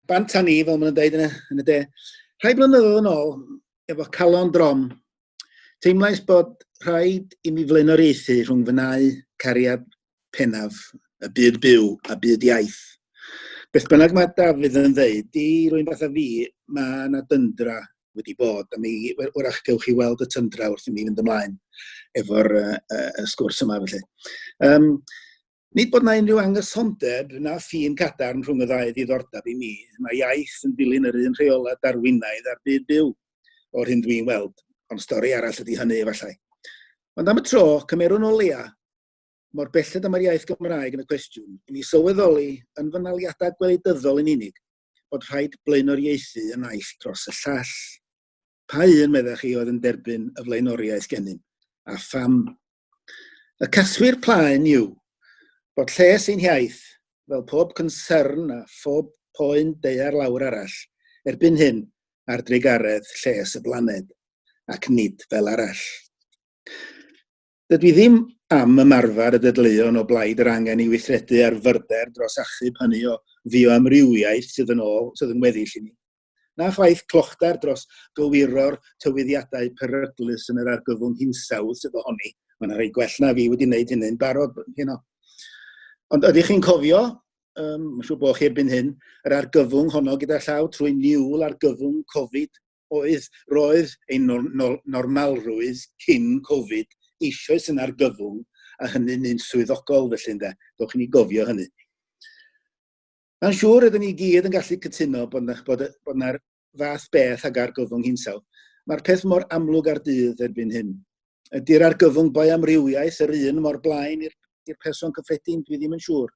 bant a ni, fel maen nhw'n dweud yn y, yn y de. Rhai blynyddoedd yn ôl, efo calon drom, teimlais bod rhaid i mi flaenoriaethu rhwng fynau cariad penaf y byd byw a byd iaith. Beth bynnag mae Dafydd yn ddeud, i rwy'n fath a fi, mae yna dyndra wedi bod, a mi wrach gewch chi weld y tyndra wrth i mi fynd ymlaen efo'r uh, uh, sgwrs yma felly. Um, Nid bod 'na unrhyw anghysondeb na ffin cadarn rhwng y ddau ddiddordeb i mi. Mae iaith yn dilyn yr un rheolau Darwinaidd a'r byd byw, o'r hyn dwi'n weld. Ond stori arall ydy hynny, efallai. Ond am y tro, cymerwn o leia, mor belled am yr iaith Gymraeg yn y cwestiwn, i mi sylweddoli yn fy naliadau gwleidyddol yn unig, bod rhaid blaenoriaethu y naill dros y llall. Pa un, meddech chi, oedd yn derbyn y flaenoriaeth gennym, a pham? Y casglu'r plaen yw bod lles ein hiaith, fel pob cynsyrn a phob poen deuar lawr arall, erbyn hyn ar drugaredd lles y blaned, ac nid fel arall. Dydw i ddim am ymarfer y dedleuon o blaid yr angen i weithredu ar fyrder dros achub hynny o fioamrywiaeth sydd yn ôl, sydd yn weddill i ni. na chwaith clochtar dros gywiro'r tywyddiadau peryglus yn yr argyfwng hinsawdd sydd ohoni. Mae'n rhai gwell na fi wedi wneud hynny'n barod hyn o. Ond ydych chi'n cofio, um, mae'n siŵr bod chi erbyn hyn, yr argyfwng honno gyda llaw trwy niwl argyfwng Covid oedd roedd ein nor nor normalrwydd cyn Covid eisoes yn argyfwng a hynny'n un swyddogol felly ynde. Dowch i ni gofio hynny. Mae'n siŵr ydyn ni gyd yn gallu cytuno bod yna bod, bod yna fath beth ag argyfwng hinsawdd. Mae'r peth mor amlwg ar dydd erbyn hyn. Ydy'r argyfwng boe amrywiaeth yr un mor blaen i'r person cyffredin, dwi ddim yn siŵr.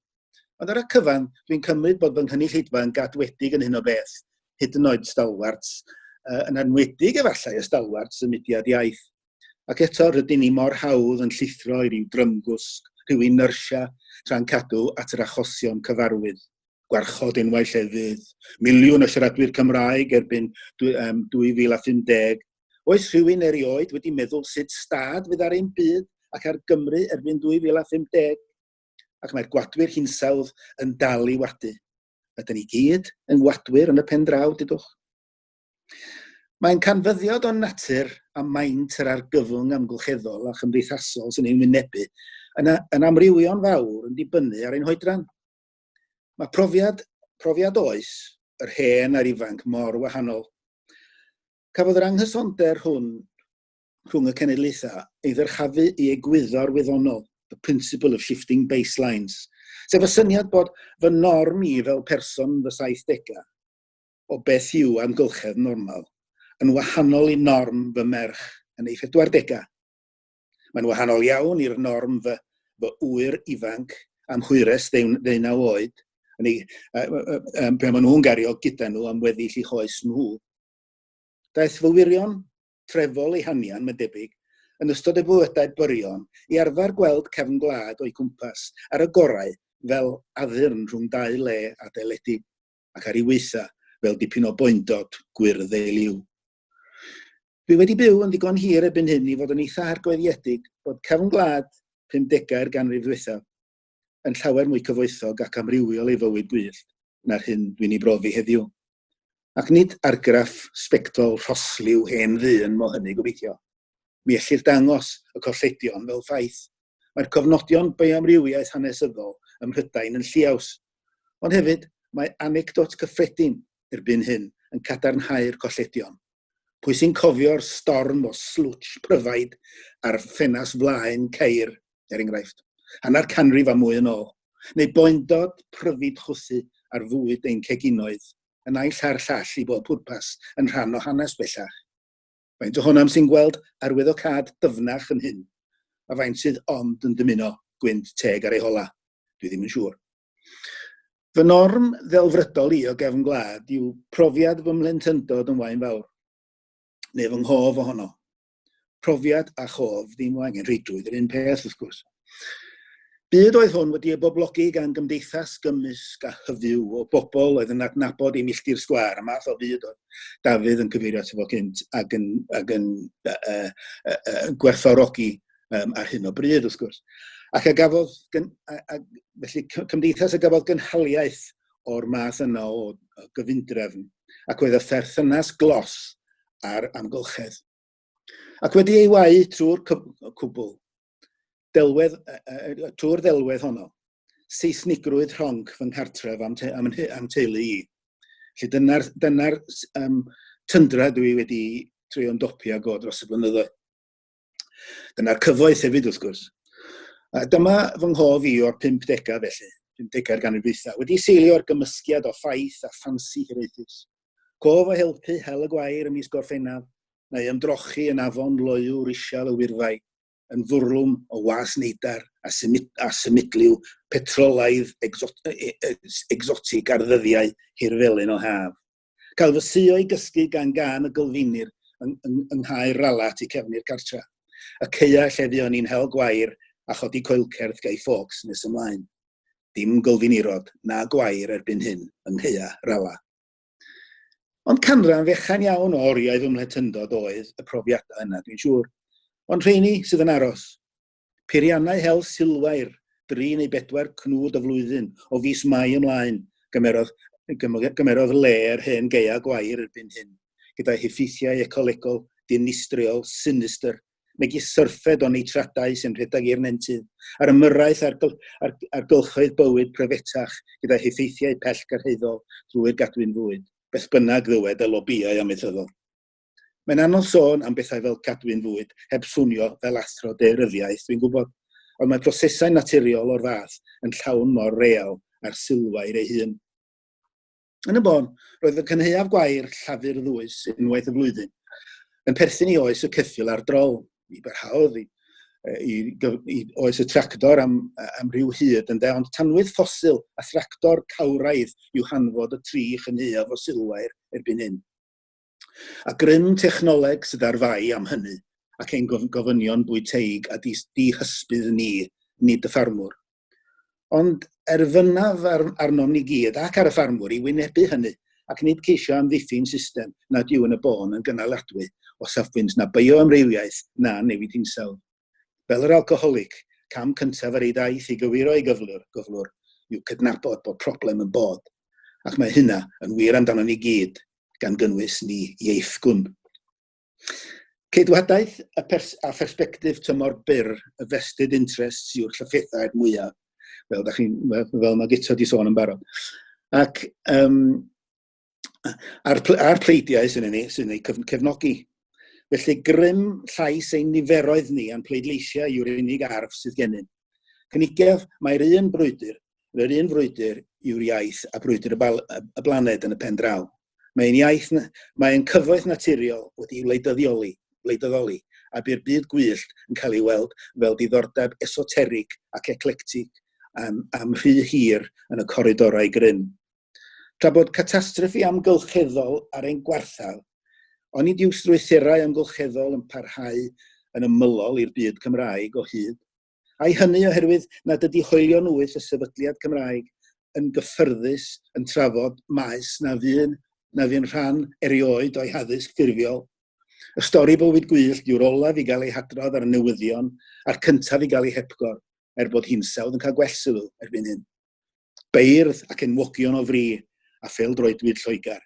Ond ar y cyfan, dwi'n cymryd bod fy nghynulleidfa yn gadwedig yn hyn o beth, hyd yn oed stalwarts, uh, yn anwedig efallai y stalwarts y mudiad iaith. Ac eto rydyn ni mor hawdd yn llithro i ryw drymgwsg, rhyw inertia, tra'n cadw at yr achosion cyfarwydd. Gwarchod enwau llefydd, miliwn o siaradwyr Cymraeg erbyn 2050. Oes rhywun erioed wedi meddwl sut stad fydd ar ein byd ac ar Gymru erbyn 2050? Ac mae'r gwadwyr hinsawdd yn dal i wadu. Ydyn ni gyd yn wadwyr yn y pen draw, dydwch? Mae'n canfyddiad o'n natur a maint yr argyfwng amgylcheddol a chymdeithasol sy'n ei wynebu yn, yn amrywio'n fawr yn dibynnu ar ein hoedran. Mae profiad, profiad oes, yr hen a'r ifanc mor wahanol. Cafodd yr anghysonder hwn rhwng y cenedlaethau ei ddyrchafu i egwyddor wyddonol, the principle of shifting baselines, sef y syniad bod fy norm i fel person fy 70au o beth yw amgylchedd normal yn wahanol i norm fy merch yn ei phedwardegau. Mae'n wahanol iawn i'r norm fy, fy ŵyr ifanc am hwyres ddeunaw oed, yn ei, pe maen nhw'n gario gyda nhw am weddill i hoes nhw. Daeth fy wirion trefol ei hanian, mae'n debyg, yn ystod y bywydau byrion i arfer gweld cefn gwlad o'i cwmpas ar y gorau fel addurn rhwng dau le adeiledig. ac ar ei weitha fel dipyn o boendod gwyrdd ei liw. Dwi wedi byw yn ddigon hir ebyn hyn i fod yn eitha hargoediedig bod cefn gwlad 50au'r ganrif ddiwethaf yn llawer mwy cyfoethog ac amrywiol ei fywyd gwyllt na'r hyn dwi'n ei brofi heddiw. Ac nid argraff sbectol rhosliw hen ddyn mo hynny gobeithio. Mi ellir dangos y colledion fel ffaith. Mae'r cofnodion bioamrywiaeth hanesyddol ym Mhrydain yn lliaws, Ond hefyd, mae anecdot gyffredin erbyn hyn yn cadarnhau'r colledion. Pwy sy'n cofio'r storm o slwtsh pryfaid ar ffenast flaen ceir, er enghraifft, hanner canrif a mwy yn ôl? Neu boendod pryfid chwythu ar fwyd ein ceginoedd, y naill a'r llall i bob pwrpas, yn rhan o hanes bellach. Faint ohonom sy'n gweld arwyddocâd dyfnach yn hyn? A faint sydd ond yn dymuno gwynt teg ar ei hola? Dwi ddim yn siŵr. Fy norm ddelfrydol i o gefn gwlad yw profiad fy mhlentyndod yn wain fawr, neu fy nghof ohono. Profiad a chof ddim o angen rheidrwydd yr un peth, wrth gwrs. Byd oedd hwn wedi ei boblogi gan gymdeithas gymysg a hyfyw o bobl oedd yn adnabod ei milltir sgwar, y math o fyd oedd Dafydd yn cyfeirio ato fo cynt ac yn, ac yn uh, uh, uh, gwerthorogi um, ar hyn o bryd, wrth gwrs. Ac a gafodd, gyn, a, a, felly cymdeithas a gafodd gynhaliaeth o'r math yna o, o gyfundrefn, ac oedd y pherthynas glos a'r amgylchedd. Ac wedi ei wau trwy'r cwbl, delwedd y, y, y tŵr ddelwedd honno, seisnigrwydd rhonc fy nghartref am, te, am, am teulu i. Felly dyna'r dyna um, tyndra dwi wedi treulio'n dopi ag o dros y blynyddoedd. Dyna'r cyfoeth hefyd wrth gwrs. A dyma fy nghof i o'r 50au felly, 50au'r ganrif wedi seilio'r gymysgiad o ffaith a ffansi hiraethus. Cof a helpu hel y gwair ym mis Gorffennaf, neu ymdrochi yn afon loyw risial y Wyrddau, yn fwrlwm o was neidar a, symud, a symudliw petrolaidd exot, e, e, exotig ar ddyddiau hir felyn o haf. Cael fy suo i gysgu gan gan y gylfinir yng, yng, yng nghaer rala tu cefn i'r cartra. Y ceia lle fuon ni'n hel gwair a chodi coelcerth gei ffocs nes ymlaen. Dim gylfinirod na gwair erbyn hyn yng ngheia rala. Ond canran fechan iawn o oriau fy mhlentyndod oedd y profiadau yna, dwi'n siŵr. Ond rheini sydd yn aros. Peiriannau hel silwair, dri neu bedwar cnwd y flwyddyn, o fis Mai ymlaen, gymerodd, gymerodd le yr hen geia gwair erbyn hyn, gyda'i heffeithiau ecolegol, dinistriol, sinistr, megis syrffed o neitradau sy'n rhedeg i'r nentydd, a'r ymyrraeth ar, gyl, ar, ar gylchoedd bywyd prefetach gyda heffeithiau pell gyrhaeddol drwy'r gadwyn fwyd. Beth bynnag ddywed y lobïau amaethyddol. Mae'n anodd sôn am bethau fel cadwyn fwyd heb swnio fel athro deuryddiaeth, dwi'n gwybod, ond mae prosesau naturiol o'r fath yn llawn mor real ar sylfair ei hun. Yn y bôn, roedd y cynhaeaf gwair llafur ddwys unwaith y flwyddyn yn perthyn i oes y ceffil a'r drol. Mi barhaodd i, i, i oes y tractor am, am ryw hyd ynde, ond tanwydd ffosil a thractor cawraidd yw hanfod y tri chynhaeaf o silwair erbyn hyn. A grym technoleg sydd ar fai am hynny ac ein gofynion bwyteig a dihysbydd ni, nid y ffarmwr. ond erfynaf ar, arnom ni gyd ac ar y ffarmwr i wynebu hynny ac nid ceisio amddiffyn system nad yw yn y bôn yn gynaladwy o safbwynt na bioamrywiaeth na newid hinsawdd. Fel yr alcoholig, cam cyntaf yr ei daith i gywiro ei gyflwr, gyflwr yw cydnabod bod problem yn bod, ac mae hynna yn wir amdano ni gyd, gan gynnwys ni ieithgwn. Ceidwadaeth y pers a phersbectif tymor byr y vested interests yw'r llyffethau'r mwyaf. Fel, da chi'n, fel, fel mae Gita di sôn yn barod. Ac um, a'r, a'r pleidiau sy'n ei, sy'n ei cefnogi. Felly grym llais ein niferoedd ni a'n pleidleisiau yw'r unig arf sydd gennym. Cynigaf, mae'r un brwydr, yr un frwydr yw'r iaith a brwydr y, bal, y blaned yn y pen draw. Mae'n iaith, mae'n cyfoeth naturiol wedi'i wleidyddioli, wleidyddoli, a bu'r byd gwyllt yn cael ei weld fel diddordeb esoterig ac eclectig am, am rhy hir yn y coridorau grym. Tra bod catastrophe amgylcheddol ar ein gwarthaf, onid yw strwythurau amgylcheddol yn parhau yn ymylol i'r byd Cymraeg o hyd? Ai hynny oherwydd nad ydy hoelion wyth y sefydliad Cymraeg yn gyffyrddus yn trafod maes na fu'n na fu'n rhan erioed o'i haddysg ffurfiol. Y stori bywyd gwyllt yw'r olaf i gael ei hadrodd ar y newyddion a'r cyntaf i gael ei hepgor, er bod hinsawdd yn cael gwell sylw erbyn hyn. Beirdd ac enwogion o fri a pheldroedwyd Lloegr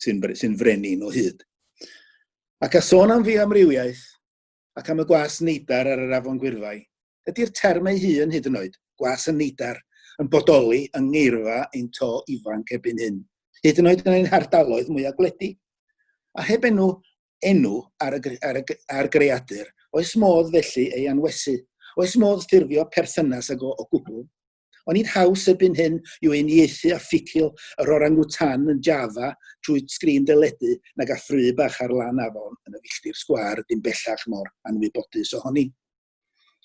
sy'n sy frenin o hyd. Ac a sôn am fi amrywiaeth, ac am y gwas neidar ar yr afon gwyrfai. Ydy'r term ei hun hyd yn oed, gwas y neidar, yn bodoli yng ngeirfa ein to ifanc ebyn hyn, hyd yn oed yn ein hardaloedd mwyaf gwledig? A heb enw enw ar y, ar y, ar greadur, oes modd felly ei anwesu? Oes modd ffurfio perthynas ag o, o gwbl? Ond nid haws erbyn hyn yw uniaethu a ffitio yr orangutan yn Java trwy sgrin deledu nag a ffru bach ar lan afon yn y filltir sgwar dim bellach mor anwybodus ohoni.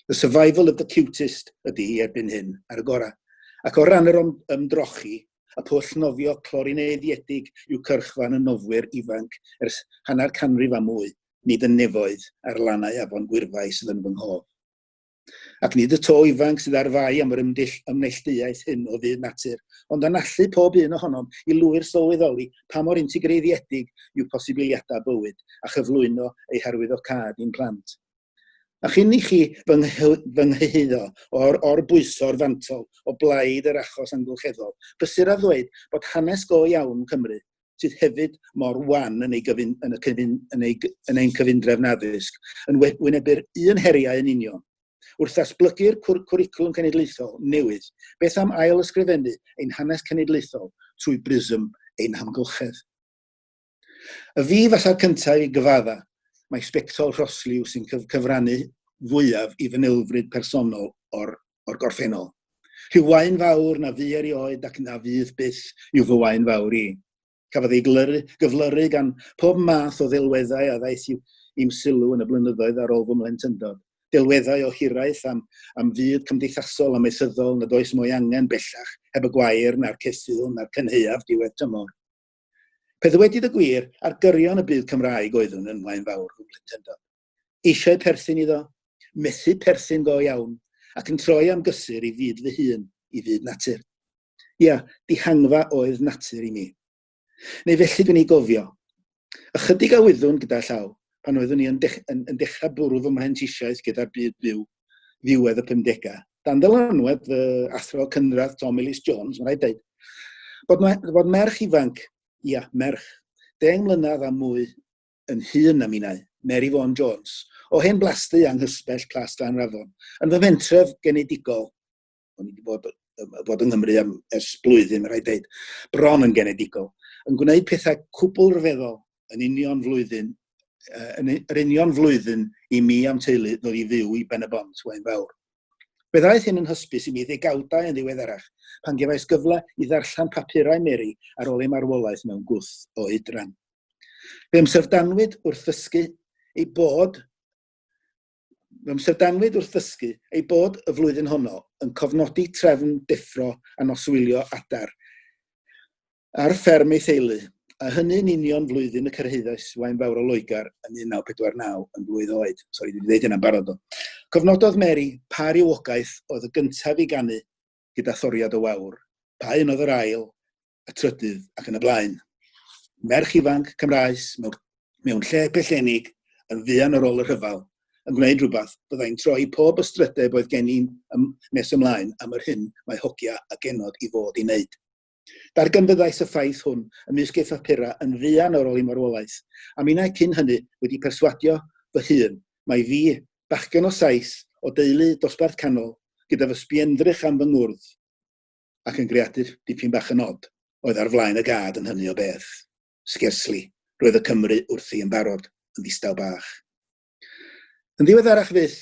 The survival of the cutest ydy hi erbyn hyn, ar y gorau. Ac o ran yr ymdrochi, y pwll nofio clorineiddiedig yw cyrchfan y nofwyr ifanc ers hanner canrif a mwy, nid yn nefoedd ar lannau afon gwyrfau sydd yn fy nghof. Ac nid y to ifanc sydd ar fai am yr ymdell ymnelltuaeth hyn o fyd natur, ond yn allu pob un ohonom i lwyr sylweddoli pa mor integreiddiedig yw posibiliadau bywyd a chyflwyno ei harwyddocâd i'n plant. A chyn i chi fy nghyhyddo o'r orbwyso'r fantol o blaid yr achos amgylcheddol, bysur a ddweud bod hanes go iawn Cymru, sydd hefyd mor wan yn ei gyfun- yn y cyfun- yn ei gy- yn ein cyfundrefn addysg yn we- wynebu'r un heriau yn union. Wrth ddatblygu'r cwr- cwricwlwm cenedlaethol newydd, beth am ail ysgrifennu ein hanes cenedlaethol trwy brism ein hamgylchedd? Y fi falla'r cyntaf i gyfadda, mae sbectol rhosliw sy'n cyf cyfrannu fwyaf i fy nilfryd personol o'r o'r gorffennol. Rhyw wain fawr na fu erioed ac na fydd byth yw fy wain fawr i. Cafodd ei glyru, gyflyru gan pob math o ddelweddau a ddaeth i'm sylw yn y blynyddoedd ar ôl fy mhlentyndod. Delweddau o hiraeth am, am fyd cymdeithasol a maethyddol nad oes mwy angen bellach heb y gwair na'r ceffyl na'r cynheuaf diwedd tymor. Pe ddywedyd y gwir, ar gyrion y byd Cymraeg oeddwn yn wain fawr fy mhlentyndod. eisiau perthyn iddo, methu perthyn go iawn, ac yn troi am gysur i fyd fy hun, i fyd natur. Ia, dihangfa oedd natur i mi. Neu felly dwi'n ei gofio. Ychydig a wyddwn gyda llaw, pan oeddwn i yn, dech, yn, yn dechrau bwrw fy mhentysiaeth gyda'r byd byw, ddiwedd y 50au. Dan dylanwad fy athro cynradd Tom Ellis Jones, mae'n rhaid dweud, bod, me, bod merch ifanc, ia, merch, deng mlynedd a mwy yn hun a minnau, Mary Vaughan Jones, o hen blasty anghysbell Plas Glanrafon, yn fy mhentref genedigol, o'n i wedi bod, bod yng Nghymru am ers blwyddyn, mae rhaid dweud, bron yn genedigol, yn gwneud pethau cwbl rhyfeddol yn union flwyddyn, uh, yn yr union flwyddyn i mi am teulu ddod i fyw i Ben y Bont, Wain Fawr. Fe ddaeth hyn yn hysbys i mi ddegawdau yn ddiweddarach, pan gefais gyfle i ddarllen papurau Mary ar ôl ei marwolaeth mewn gwth o oedran. Fe ymsyrdanwyd wrth ddysgu ei bod Fe ymsyrdanwyd wrth ddysgu ei bod y flwyddyn honno yn cofnodi trefn deffro a noswylio adar ar fferm ei theulu, a hynny'n union flwyddyn y cyrhaeddais wain fawr o Loegr yn 1949 yn blwydd oed. Sori, dwi'n dweud hynna'n barod o. Cofnododd Mary pa rywogaeth oedd y gyntaf i ganu gyda thoriad o wawr, pa un oedd yr ail, y trydydd ac yn y blaen. Merch ifanc Cymraes mewn, mewn lle pellenig yn fuan ar ôl y rhyfel yn gwneud rhywbeth byddai'n troi pob ystrydeb oedd gen i'n ym, nes ymlaen am yr hyn mae hogia a genod i fod i wneud. Darganfyddais y ffaith hwn ymysg ei phapura yn fuan ar ôl ei marwolaeth, a minnau cyn hynny wedi perswadio fy hun mae fi, bachgen o Sais, o deulu dosbarth canol, gyda fy sbiendrych am fy ngwrdd, ac yn greadur dipyn bach yn od, oedd ar flaen y gad yn hynny o beth. Sgersli, roedd y Cymry wrthi yn barod, yn ddistaw bach. Yn ddiweddarach fyth,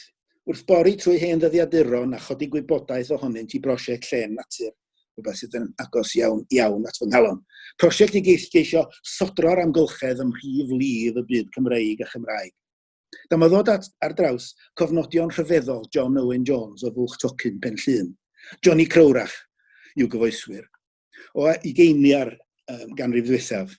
wrth bori trwy hen ddyddiaduron a chodi gwybodaeth ohonynt i brosiect Llên Natur, rhywbeth sydd yn agos iawn iawn at fy nghalon. Prosiect i geisio sodro'r amgylchedd ym mhrif lif y byd Cymreig a Chymraeg. Dyma ddod at, ar draws cofnodion rhyfeddol John Owen Jones o Fwlch Tocyn, Pen Llun. Johnny Crowrach yw gyfoeswyr. O i geini ar um, ganrif ddwythaf.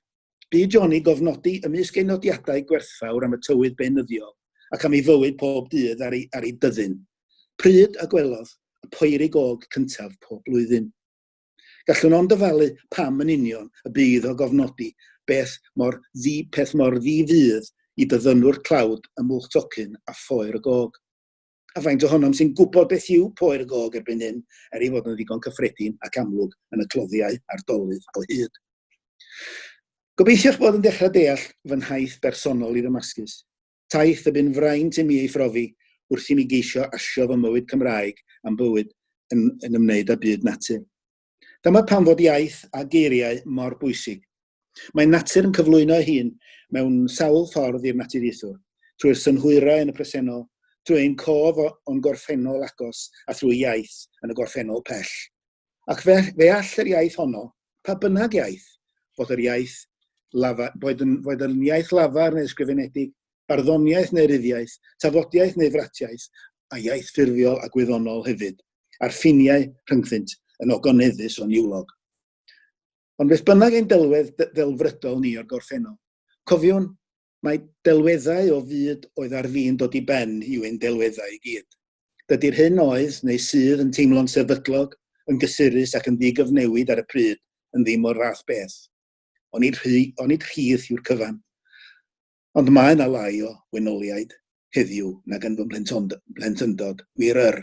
Bu Johnny gofnodi ymysg ei nodiadau gwerthfawr am y tywydd beunyddiol ac am ei fywyd pob dydd ar ei, ar ei byddin. Pryd a gwelodd y poeri gog cyntaf pob blwyddyn. Gallwn ond dyfalu pam yn union y bydd o gofnodi beth mor ddi peth mor ddi fydd i byddynwr tlawd ym Mwlch Tocyn a Phoer y Gog. A faint ohonom sy'n gwybod beth yw Poer y Gog erbyn hyn, er ei fod yn ddigon cyffredin ac amlwg yn y cloddiau a'r dolydd o hyd? Gobeithio'ch bod yn dechrau deall fy nhaith bersonol i Ddamascus. Taith y bu'n fraint i mi ei phrofi wrth i mi geisio asio fy mywyd Cymraeg am bywyd yn, yn ymwneud â byd natur. Dyma pam fod iaith a geiriau mor bwysig. Mae natur yn cyflwyno ei hun mewn sawl ffordd i'r naturiaethwr, trwy'r synhwyrau yn y presennol, trwy ein cof o'n gorffennol agos a thrwy iaith yn y gorffennol pell. Ac fe, fe all yr iaith honno, pa bynnag iaith, bod yr iaith lafa, boed yn, boed yn iaith lafar neu ysgrifenedig, barddoniaeth neu ryddiaeth, tafodiaeth neu fratiaeth, a iaith ffurfiol a gwyddonol hefyd, a'r ffiniau rhyngddynt yn ogoneddus o niwlog. Ond beth bynnag ein delwedd ddelfrydol ni o'r gorffennol, cofiwn Mae delweddau o fyd oedd ar fin dod i ben yw ein delweddau i gyd. Dydy'r hyn oedd neu sydd yn teimlo'n sefydlog, yn gysurus ac yn ddigyfnewid ar y pryd yn ddim o'r fath beth. Onid, rhy, onid rhydd yw'r cyfan. Ond mae yna lai o wenoliaid heddiw nag yn fy mhlentyndod, wir yr.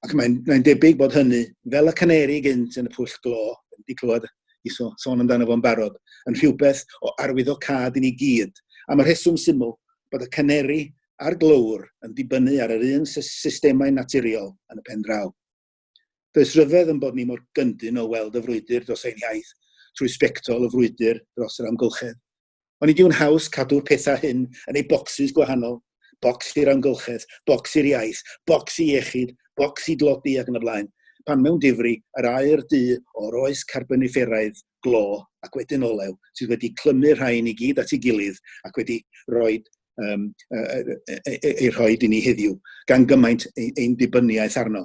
Ac mae'n mae debyg bod hynny, fel y caneri gynt yn y pwll glo, wedi clywed i so, sôn amdano fo'n barod, yn rhywbeth o arwyddo cad i ni gyd, am y rheswm syml bod y caneri a'r glowr yn dibynnu ar yr un systemau naturiol yn y pen draw. Does rhyfedd yn bod ni mor gyndyn o weld y frwydr dros ein hiaith trwy sbectol y frwydr dros yr amgylchedd, Ond nid yw'n haws cadw'r pethau hyn yn ei bocsys gwahanol, bocs i'r amgylchedd, bocs i'r iaith, bocs i iechyd, bocs i dlodi ac yn y blaen, pan mewn difri yr aer du o'r oes carboniferaidd, glo ac wedyn olew sydd wedi clymu rhain i gyd at ei gilydd ac wedi rhoi um, ei rhoi i ni heddiw, gan gymaint ein dibynniaeth arno.